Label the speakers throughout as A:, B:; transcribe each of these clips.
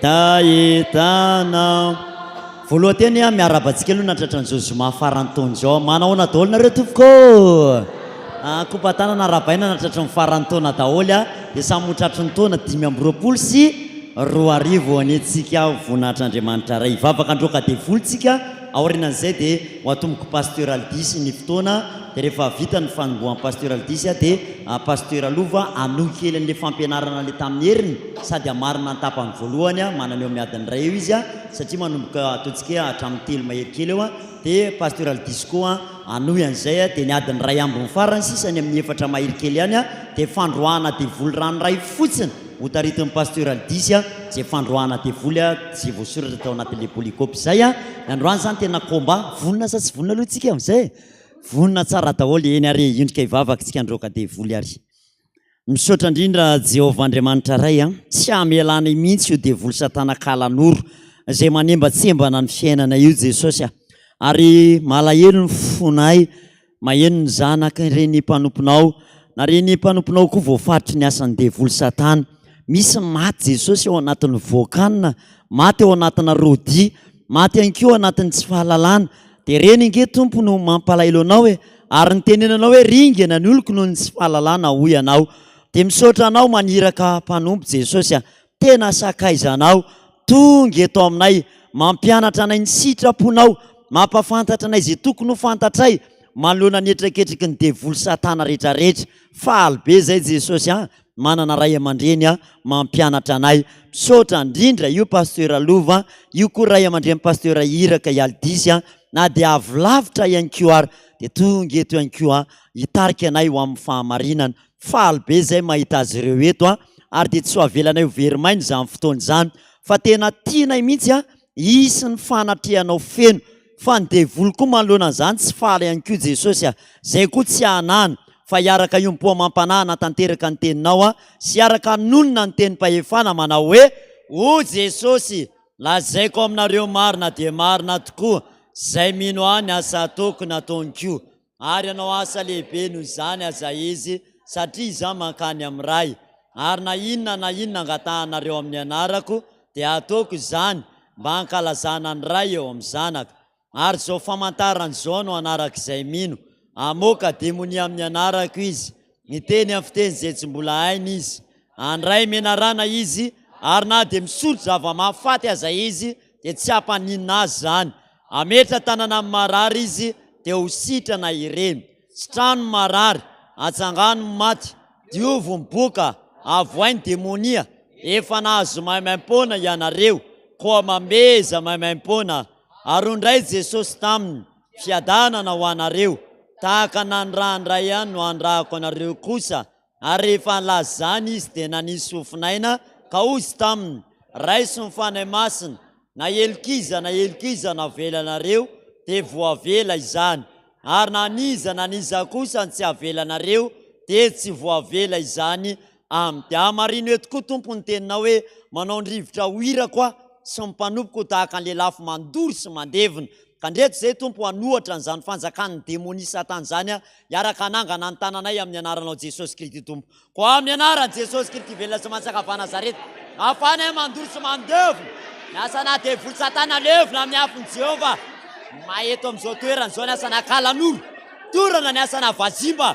A: Tahitana Voaloha teny a miarahaba antsika aloha natratra an'izao zoma faran'ny taona izao. Manao ahoana daholo nareo tompoko ô? Kopatanana arahabaina natratra ny faran'ny taona daholo a, dia samy ho tratry ny taona dimy amby roapolo sy roa arivo ho anetsika voninahitr'Andriamanitra Ray. Hivavaka androaka devoly tsika. aorianan'izay dia ho atomboko Pasteur Aldisy ny fotoana dia rehefa vita ny fanombohan'i Pasteur Aldisy aho dia Pasteur Alova hanohy kely an'ilay fampianarana ilay tamin'ny heriny sady hamarina ny tapany voalohany manana eo amin'ny adiny iray eo izy satria manomboka ataontsika hatramin'ny telo mahery kely eo dia Pasteur Aldisy koa Hanohy an'izay dia ny adiny iray ambiny farany sisa any amin'ny efatra mahery kely any dia fandroahana devoly ranoray fotsiny hotaritin'ny Pasteur Aldisy izay fandroahana devoly izay voasoratra tao anatin'ilay polycope izay ny androany izany tena combat vonona sa tsy vonona aloha tsika amin'izay e! vonona tsara daholo eny ary indrika hivavaka tsika handroaka devoly ary. Misaotra indrindra Jehovah Andriamanitra Ray a! Tsy hamela anay mihitsy io devoly satana kala noro izay manembatsembana ny fiainanay io Jesosy a! Ary malahelo ny fonay maheno ny zanaka ireny mpanomponao na ireny mpanomponao koa voafaritry ny asan'ny devoly satana. Misy maty Jesosy ao anatin'ny voakanina, maty ao anatina rodia, Maty ihany koa anatin'ny tsy fahalalana. Dia reny ange Tompo no mampalahelo anao e! Ary ny tenenanao hoe ringana ny oloko noho ny tsy fahalalana hoy ianao. Dia misaotra anao maniraka mpanompo Jesosy a! Tena sakaizanao! Tonga eto aminay! Mampianatra anay ny sitraponao! Mampafantatra anay izay tokony ho fantatray manoloana ny hetraketraky ny devoly satana rehetrarehetra! Faly be izay Jesosy a! Manana ray aman-dreny mampianatra anay. Misaotra indrindra io Pasteur Lova, io koa ray aman-dren'i Pasteur Iraka i Aldisy na dia avy lavitra ihany koa ary dia tonga eto ihany koa hitarika anay ho amin'ny fahamarinana. Faly be izay mahita azy ireo eto ary dia tsy ho avelanay ho very maina izany fotoana izany fa tena tianay mihitsy hisy ny fanatrehanao feno Fa ny devoly koa manoloana an'izany tsy faly ihany koa Jesosy a! Izay koa tsy anany fa hiaraka hiompo amam-panahy hanatanteraka ny teninao a! Sy hiaraka hanonona ny tenim-pahefana manao hoe, O Jesosy, lazaiko aminareo marina dia marina tokoa, izay mino ahy ny asa ataoko nataony koa. ary hanao asa lehibe noho izany aza izy, satria izaho mankany amin'ny Ray, ary na inona na inona angatahanareo amin'ny anarako, dia hataoko izany, mba hankalazana ny Ray eo amin'ny Zanaka. Ary izao famantarana izao no hanarak'izay mino, hamoaka demonia amin'ny anarako izy, Miteny amin'ny fiteny izay tsy mbola hainy izy. Handray menarana izy, ary na dia misotro zava-mahafaty aza izy, dia tsy hampaninona azy izany. Hametra-tanana amin'ny marary izy, dia ho sitrana ireny. Sitrano ny marary, atsangano ny maty, diovy ny boka, avohay ny demonia. Efa nahazo maimaim-poana ianareo, koa mamehy izay maimaim-poana. Ary hoy indray Jesosy taminy. Fiadanana ho anareo, tahaka nanirahany Ray ihany no anirahako anareo kosa. Ary rehefa nilaza izany Izy, dia nanisy fofon'aina, ka hozy taminy, Raiso ny Fanahy Masina, na helokiza na helokiza no avelanareo, dia voavela izany, ary na an'iza na an'iza kosa no tsy avelanareo, dia tsy voavela izany Aminy. Dia hamarino eto koa, Tompo, ny teninao hoe, Manao ny rivotra ho irako Aho, sy ny mpanompoko ho tahaka ny lelafo mandoro sy mandevina. Ka ndreto izay, Tompo, hanohatra an'izany fanjakan'ny demonia Satana izany aho, hiaraka hanangana ny tananay amin'ny Anaranao Jesosy Kristy Tompo. Koa amin'ny Anaran'i Jesosy Kristy velona sy manjaka avy any Nazareta, mafana ahy mandoro sy mandevona ny asanà devoly Satana levona amin'ny afon'i Jehovah. May eto amin'izao toerana izao ny asanà kalanoro, torana ny asanà vazimba.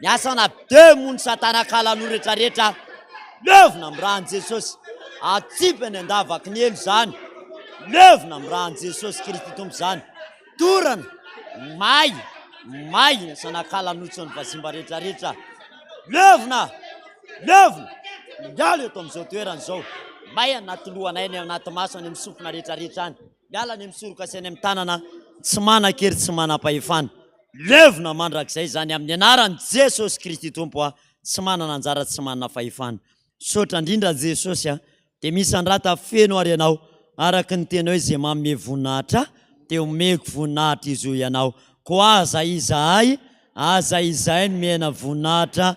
A: Ny asana be moa ny satana kalan'o rehetra rehetra levona am ran'i Jesosy atsipy any andavaky ny elo izany levona am ran'i Jesosy Kristy Tompo izany dorana may may ny asana kalan'otsony vazimba rehetra rehetra levona levona miala eto am'izao toerana izao may anaty lohanay any anaty maso any am sofina rehetra rehetra any Miala ny misoroka sy any amin'ny tanana tsy manan-kery tsy manam-pahefana. Levona mandrakizay izany amin'ny anaran'i Jesosy Kristy Tompo aho tsy manana anjara tsy manana fahefana. Misaotra indrindra Jesosy a! Dia misandrata feno ary ianao araka ny teninao izay manome voninahitra ahy dia omeko voninahitra izohy ianao koa aza izahay aza izahay nomena voninahitra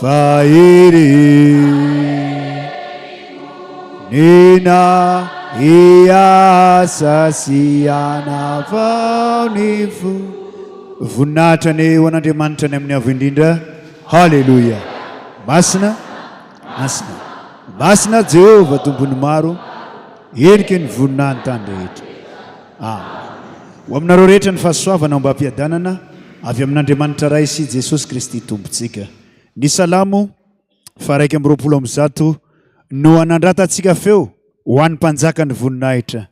B: Vahery Nina hiasa sy hanavao ny fo Voninahitra ny ho an'Andriamanitra ny amin'ny avo indrindra Haleloia Masina Masina Masina Jehovah Tompon'ny maro Heniky ny voninahy ny tany rehetra Amen Ho aminareo rehetra ny fahasoavana ao am-bampiadanana Avy amin'Andriamanitra Ray sy Jesosy Kristy Tompontsika. Ny Salamo faha iraika amby roapolo amby zato no hanandratantsika feo ho an'ny Mpanjakan'ny voninahitra.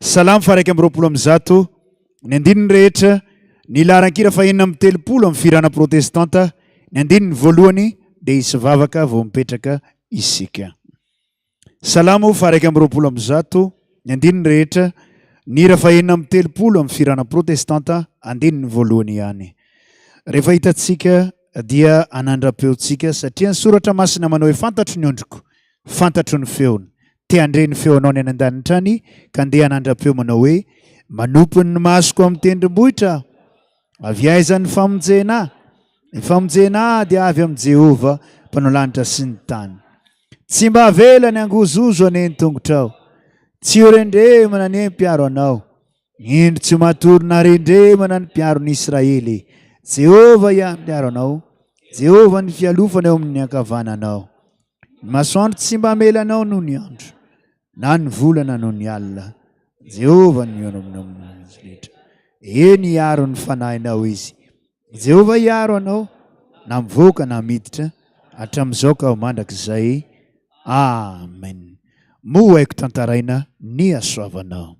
B: Salamo faha iraika amby roapolo amby zato, ny andininy rehetra, ny laharan-kira faha enina amby telopolo amin'ny fihirana protestanta, ny andininy voalohany dia hisy vavaka vao mipetraka isika. Salamo faha-iraika amby roapolo amby zato, ny andininy rehetra, ny hira fahenina amby telopolo amin'ny fihirana protestanta, andininy voalohany ihany. Rehefa hitantsika dia hanandra-peontsika, satria ny Soratra Masina manao hoe fantatro ny ondriko, fantatro ny feony. Te handre ny feonao ny any an-danitra any, ka ndeha hanandra-peo manao hoe, Manompo ny masoko amin'ny tendrombohitra aho. Avy aiza ny famonjena? Ny famonjena dia avy amin'i Jehovah, Mpanao lanitra sy ny tany. Tsy mba avela ny hangozozo anie ny tongotrao. Tsy ho rendremana anie ny mpiaro anao. Indro tsy ho matory na rendremana ny mpiaron'i Israely. Jehovah ihany mpiaro anao, Jehovah ny fialofana eo amin'ny ankavananao. Ny masoandro tsy mba hamela anao noho ny andro, na ny volana noho ny alina. Jehovah no mihaona aminao amin'ny rehetra. Eny, hiaro ny fanahinao izy. I Jehovah hiaro anao, na mivoaka na miditra, hatramin'izao ka ho mandrakizay. Amen. Moa ho haiko tantaraina ny hasoavanao.